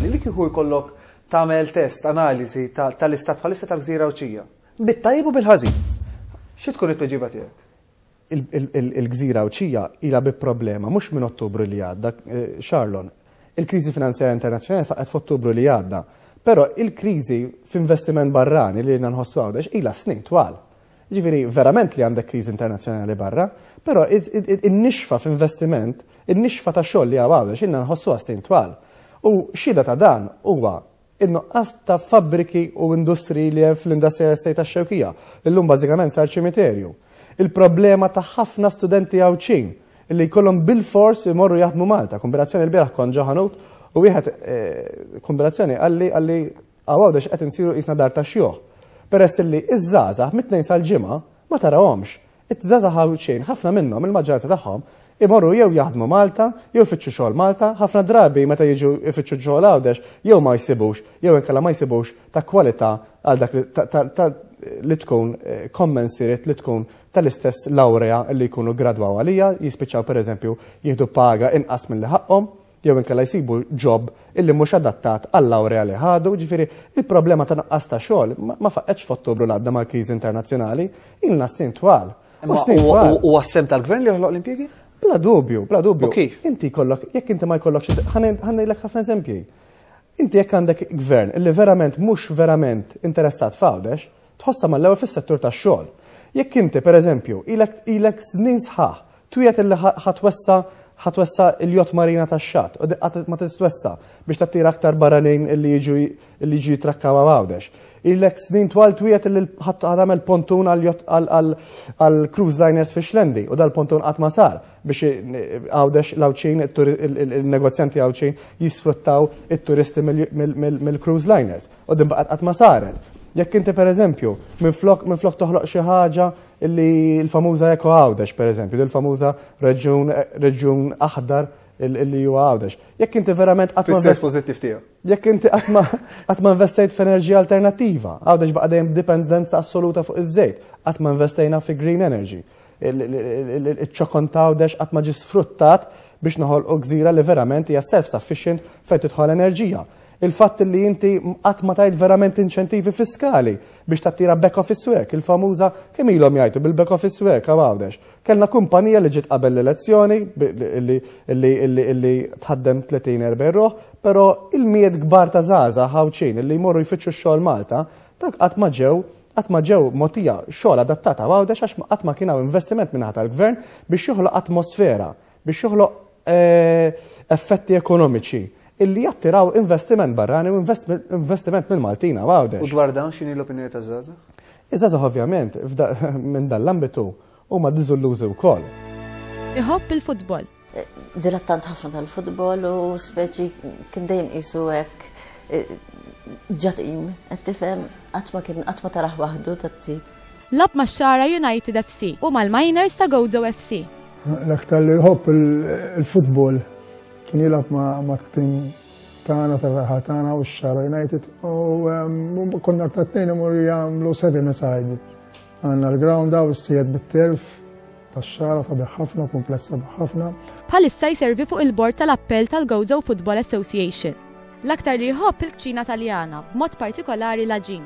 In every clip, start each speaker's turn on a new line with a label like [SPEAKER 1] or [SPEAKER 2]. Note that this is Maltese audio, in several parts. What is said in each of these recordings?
[SPEAKER 1] Li kieku jkollok tagħmel test, analiżi tal-istat bħalissa tal-gżira Għawdxija. Bit-tajjeb u bil-ħażin. Xi tkun it-tweġiba tiegħek?
[SPEAKER 2] Il-gżira Għawdxija ilha bi problema mhux minn Ottubru li għadda, Charlon. Il-kriżi finanzjarja internazzjonali faqgħet f'Ottubru li għadda. Però il-kriżi f'investiment barrani li ilna nħossu Għawdex ilha snin twal. Ġifieri verament li għandek kriżi internazzjonali barra, però in-nixfa f'investiment, in-nixfa ta' xogħol li hawn hawn għax inna nħossu għastin twal. U xhieda ta' dan huwa in-nuqqas ta' fabbriki u industri li hemm fl-industrial estate tax-Xewkija, li llum bażikament sar ċimiterju. Il-problema ta' ħafna studenti Għawdxin li jkollhom bil-fors imorru jaħdmu Malta. Kombinazzjoni l-bieraħ kont ġo ħanut u wieħed eh, kombinazzjoni għalli għalli Hawn għawdex qed insiru qisna dar tax-xjuħ, peress illi ż-żgħażagħ mit-Tnejn sal-Ġimgħa ma tarahomx. Iż-żgħażagħ Għawdxin ħafna minnhom, il-maġġoranza tagħhom, imorru jew jaħdmu Malta jew ifittxu xogħol Malta, ħafna drabi meta jiġu jfittxu xogħol Għawdex jew ma jsibux jew inkella ma jsibux ta' kwalità għal dak li tkun commensurate li tkun tal-istess lawrea li jkunu ggradwaw għaliha, jispiċċaw pereżempju jieħdu paga inqas milli ħaqqhom. jew inkella jsibu ġob illi mhux adattat għal-lawrea li ħadu, ġifieri il-problema ta' nuqqas ta' xogħol ma faqqgħetx f'Ottubru li għadda mal-kriżi internazzjonali, ilna snin twal. U għas-sehem
[SPEAKER 1] tal-Gvern li joħloq l-impjiegi? Bla dubju, bla
[SPEAKER 2] dubju. Kif? Inti jkollok,
[SPEAKER 1] jekk inti
[SPEAKER 2] ma jkollokx, ħanejlek ħafna eżempji. Inti jekk għandek gvern illi verament mhux verament interessat f'Għawdex, tħossha mal-ewwel fis-settur tax-xogħol. Jekk inti, pereżempju, ilek snin sħaħ twiegħed illi ħa twessa' ħa twessa' il-jott marina tax-xatt u qatt ma tistwessa' biex tattira aktar barranin illi jiġu illi jiġu jitrakkaw għawdex. Ilek snin twal twiegħed illi ħa tagħmel pontun għal cruise liners fi xlendi u dal-pontun qatt ma sar biex għawdex l-għawċin il-negozjanti għawċin jisfruttaw it-turisti mill-cruise liners. U din baqgħet qatt ma saret. Jekk inti pereżempju, minflok minflok toħloq xi ħaġa li l-famuża Eko Għawdex pereżempju, l famuża reġjun reġjun aħdar li huwa Għawdex. Jekk inti verament qatt ma pożittiv tiegħu. Jekk
[SPEAKER 1] inti qatt ma
[SPEAKER 2] qatt ma investejt f'enerġija alternattiva, Għawdex baqa' dejjem dipendenza assoluta fuq iż-żejt, qatt ma investejna fi green energy. Iċ-ċokon ta' Għawdex qatt ma ġi sfruttat biex noħolqu gżira li verament hija self-sufficient fejn tidħol enerġija. Il-fatt li inti qatt ma tajt verament inċentivi fiskali biex tattira back office work, il-famuża kemm ilhom jgħidu bil-back office work għaw għawdex. Kellna kumpanija li ġiet qabel l-elezzjoni li tħaddem 30-40 ruħ, però il-miet kbar ta' żaża ħawċin li jmorru jfittxu x-xogħol Malta, dak qatt ma ġew qatt ma ġew motija xogħol adattata għawdex għax qatt ma kien hawn investiment minn tal-gvern biex joħloq atmosfera biex joħloq effetti ekonomiċi illi jattiraw investiment barrani u investiment minn Maltina għawdex. U dwar dan xini l-opinjoni
[SPEAKER 1] ta' Zaza? Iż-Zaza ovvjament
[SPEAKER 2] minn dan l-ambitu u ma diżullużi wkoll. Iħobb
[SPEAKER 3] il-futbol. Dilettant
[SPEAKER 4] ħafna tal-futbol u speċi kien dejjem qisu hekk ġatim, qed tifhem qatt ma kien qatt ma taraħ waħdu tat-tip. Lagħab max-Xagħra
[SPEAKER 3] United FC u mal-Miners ta' Gozo FC. L-aktar li
[SPEAKER 5] jħobb il-futbol kien jilgħab ma' tim tagħna tar-raħa tagħna u x-Xagħra United u ehm, konna ta' tnejn imur jagħmlu seven aside. Għandna l-ground u s-sejed bit-terf tax-xara sabiħ ħafna, kumpless sabiħ ħafna. Bħalissa jservi
[SPEAKER 3] fuq il-bord tal-appell tal-Gozo Football Association. L-aktar li jħobb il-kċina taljana, b'mod partikolari l-aġin.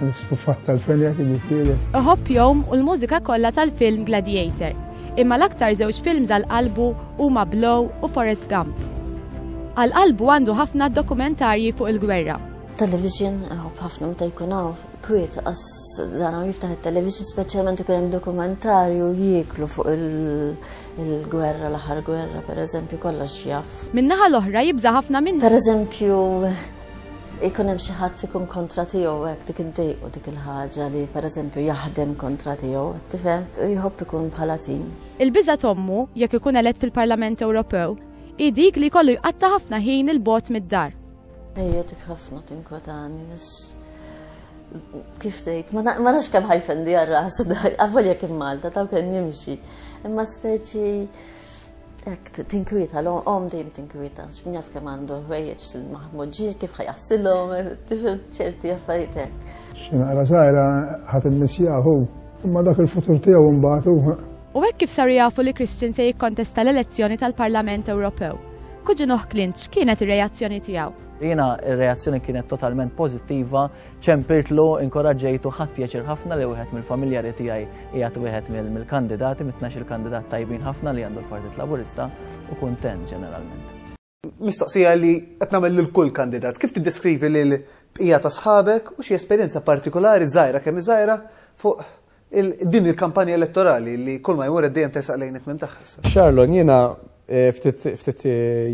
[SPEAKER 5] L-istufat tal-fenja kien jifielek. Iħobb jom u
[SPEAKER 3] l-mużika kollha tal-film Gladiator. Imma l-aktar żewġ films għal qalbu huma Blow u Forest Gump. Għal qalbu għandu ħafna dokumentarji fuq il-gwerra. Television,
[SPEAKER 4] għob ħafna meta jkun għaw, kwiet, għas dan għaw jiftaħ il-television, specialment ikun hemm dokumentarju jiklu fuq il-gwerra, l-aħħar gwerra, per eżempju, kollox jaf. Minnaħa l-oħra jibza
[SPEAKER 3] ħafna minn. Per eżempju,
[SPEAKER 4] Ikun hemm xi ħadd ikun kontra tiegħu hekk dik iddejqu dik il-ħaġa li pereżempju jaħdem kontra tiegħu, tifhem? Jħobb ikun bħala tim. Il-biża' t'ommu,
[SPEAKER 3] jekk ikun elett fil-Parlament Ewropew, hi dik li jkollu jqatta' ħafna ħin 'il bogħod mid-dar. Ejja dik
[SPEAKER 4] ħafna tinkwetani għax kif tgħid, ma nafx kemm ħajfendi għar-rasu dak, avolja kien Malta taw kien jimxi. Imma speċi Ek, tinkwieta, l-om dejjem tinkwieta, x'min jaf kemm għandu ħwejjeġ il-Mahmud ġiġ kif ħajaħsilhom, tifhem ċerti affarijiet hekk. X'naqra sajra
[SPEAKER 5] ħadd immissjaħu, imma dak il-futur tiegħu mbagħad U hekk kif saru
[SPEAKER 3] jafu li Christian se jikkontesta l-elezzjoni tal-Parlament Ewropew. Kuġin Clint x'kienet ir-reazzjoni tiegħu? Jiena ir-reazzjoni
[SPEAKER 6] kienet totalment pożittiva Ċempirtlu, inkoraġġejtu ħadd pjaċir ħafna li wieħed mill-familjari tiegħi qiegħed wieħed mill-kandidati, mit-tnax il-kandidat tajbin ħafna li għandu l-Partit Laburista u kuntent ġeneralment. Mistoqsija
[SPEAKER 1] li qed nagħmel lil kull kandidat, kif tiddeskrivi lil bqija ta' sħabek u xi esperjenza partikolari żgħira kemm iżgħira fuq Din il-kampanja elettorali li kull ma jmur dejjem tersaq lejn it-tmiem tagħha issa. Charlon, jiena
[SPEAKER 2] eh, ftit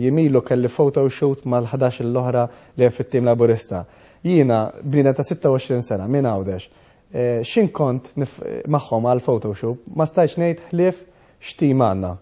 [SPEAKER 2] jimilu kelli photo shoot mal-11 l-oħra li hemm fit-tim Laburista. Jiena bniedem ta' 26 sena minn Għawdex. Eh, x'in kont magħhom għal photo shoot ma stajtx ngħid ħlief x'tim għandna.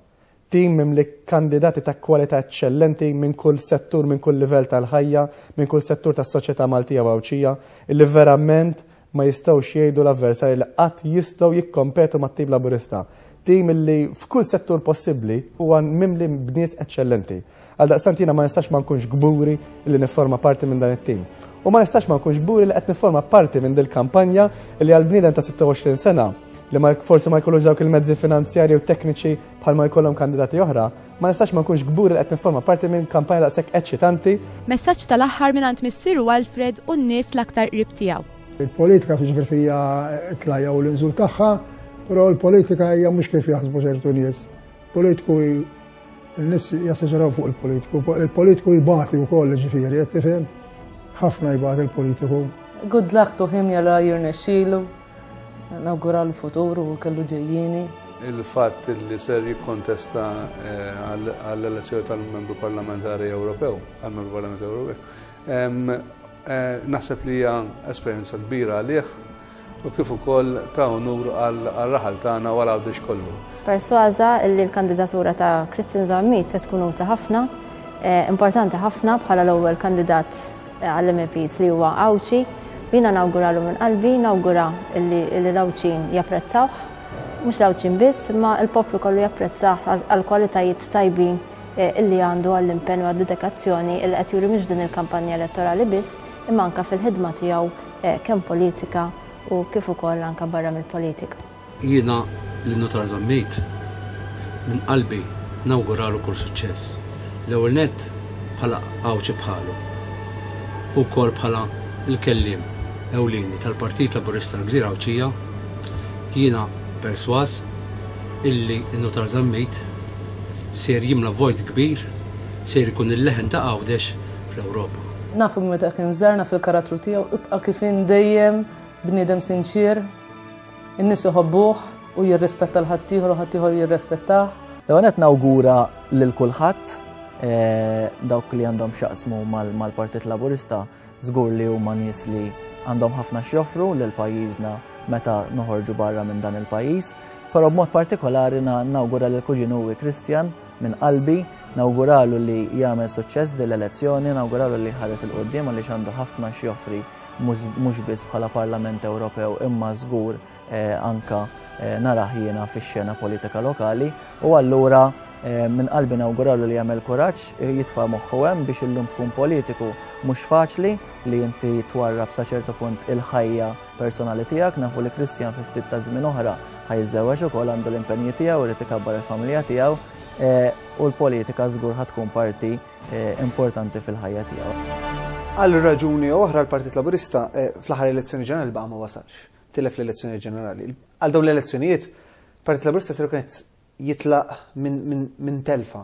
[SPEAKER 2] Tim mimli kandidati ta' kwalità eċċellenti minn kull settur, minn kull livell tal-ħajja, minn kull settur tas-soċjetà Maltija u Għawdxija, illi verament ma jistgħux jgħidu l-avversarji li qatt jistgħu jikkompetu mat-Tim Laburista. Tim illi f'kull settur possibbli huwa mimli b'nies eċċellenti. Għaldaqstant jiena ma nistax ma nkunx kburi li nifforma parti minn dan it-tim. U ma nistax ma nkunx kburi li qed nifforma parti minn dil-kampanja li għal bniedem ta' 26 sena li ma forsi ma jkollux dawk il-mezzi finanzjarji u tekniċi bħal ma jkollhom kandidati oħra, ma nistax ma nkunx kburi li qed nifforma parti minn kampanja daqshekk eċċitanti. Messaġġ tal-aħħar
[SPEAKER 3] minn għand missieru Alfred u n-nies l-aktar qrib tiegħu. Il-politika fiġifier
[SPEAKER 5] fija tlajja u l-inżul tagħha, però l-politika hija mhux kif jaħsbu ċertu nies. Politiku N-nis jasseġeraw fuq il-politiku, il-politiku jibati u koll ġifiri, jettifem, ħafna jibati il-politiku. Good luck to
[SPEAKER 7] him jara jirnexxilu, nawgura l-futur u kellu ġejjini. Il-fatt
[SPEAKER 8] li ser jikkontesta eh, għall-elezzjoni tal-membru parlamentari Ewropew, għal-membru parlamentari Ewropew, eh, naħseb li hija esperjenza kbira għalih u kif ukoll ta' unur għar-raħal tagħna u għal Għawdex kollu. Persważa
[SPEAKER 9] li l-kandidatura ta' Christian Zammit se tkun utli ħafna, eh, importanti ħafna bħala l-ewwel kandidat eh, għall-MPs li huwa Għawċi, jiena nawguralu minn qalbi, nawgura li l-Għawċin japprezzawh, mhux l-Għawċin biss, ma l-poplu kollu japprezzah għall-kwalitajiet tajbin eh, illi għandu għall-impenn u għad-dedikazzjoni il qed juri mhux din il-kampanja elettorali biss, imma anka fil-ħidma tiegħu kemm politika u kif ukoll anke barra mill-politika. Jiena
[SPEAKER 10] lil Nutar Zammit minn qalbi nawguralu kull suċċess, l-ewwel nett bħala Għawdxi bħalu u wkoll bħala l-kelliem ewlieni tal-Partit Laburista l-Gżira Għawdxija, jiena persważ illi n-Nutar Zammit ser jimla vojt kbir, ser ikun il-leħen ta' Għawdex, fl-Ewropa. Nafu minn meta kien
[SPEAKER 7] żarna fil-karattru tiegħu ibqa' kif dejjem bniedem sinċier, in-nies iħobbuh u jirrispetta l-ħaddieħor u ħaddieħor jirrispettah. Leonet nawgura
[SPEAKER 6] lil kulħadd eh, dawk li għandhom xaqsmu mal-Partit Laburista żgur li huma nies li għandhom ħafna x'joffru lil pajjiżna meta noħorġu barra minn dan il-pajjiż, però b'mod partikolari nawgura lil kuġinu Kristjan Minn qalbi, nawguralu li jagħmel suċċess din l-elezzjoni, nawguralu li jħares il-qudiem għaliex għandu ħafna x'joffri mhux biss bħala Parlament Ewropew imma żgur eh, anka eh, narah jiena fix-xena politika lokali u allura eh, minn qalbi nawguralu li jagħmel kuraġġ jitfa' moħħu hemm biex illum tkun politiku mhux faċli li inti twarrab sa ċertu punt il-ħajja personali tiegħek, nafu li Kristjan fi ftit ta' żmien oħra ħajżewweġ ukoll għandu l-impenji tiegħu irid ikabbar il-familja tiegħu eh, u l-politika żgur ħad tkun parti eh, importanti fil-ħajja tiegħu. Għal
[SPEAKER 1] raġuni oħra l-Partit Laburista eh, fl-aħħar elezzjoni ġenerali baqa' ma wasalx, tilef l-elezzjoni ġenerali. Għal dawn l-elezzjonijiet, Partit Laburista ser kienet jitlaq minn telfa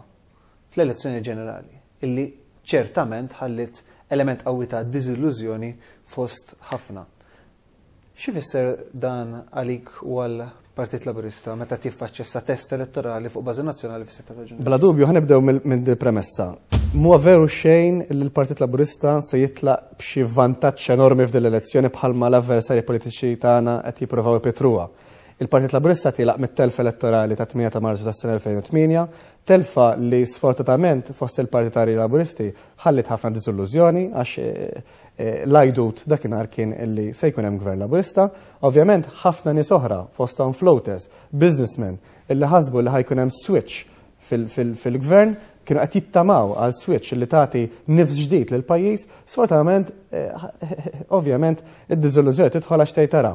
[SPEAKER 1] fl-elezzjoni ġenerali. illi ċertament ħalliet element qawwi ta' diżillużjoni fost ħafna. X'ifisser dan għalik u għal Partit Laburista meta tiffaċċja sa test elettorali fuq bażi nazzjonali fis-6 ta' Ġunju. Bla dubju ħanibdew
[SPEAKER 2] minn premessa. Mhuwa veru xejn li l-Partit Laburista se jitlaq b'xi vantaġġ enormi f'din l-elezzjoni bħalma l-avversarji politiċi tagħna qed jippruvaw ipitruha. Il-Partit Laburista tilaq mit-telf elettorali ta' 8 ta' Marzu tas-sena 2008 Telfa li sfortatament fost il-partitarji Laburisti ħalliet ħafna diżillużjoni għax l-għajdut dakinhar kien li se jkun hemm Gvern Laburista. Ovvjament ħafna nies oħra fosthom floaters, businessmen illi ħasbu li ħajkun hemm switch fil-Gvern kienu qed jittamaw għal switch li tagħti nifs ġdid lill-pajjiż, sfortunatament eh, ovvjament id-diżillużjoni tidħol għax tgħid tara.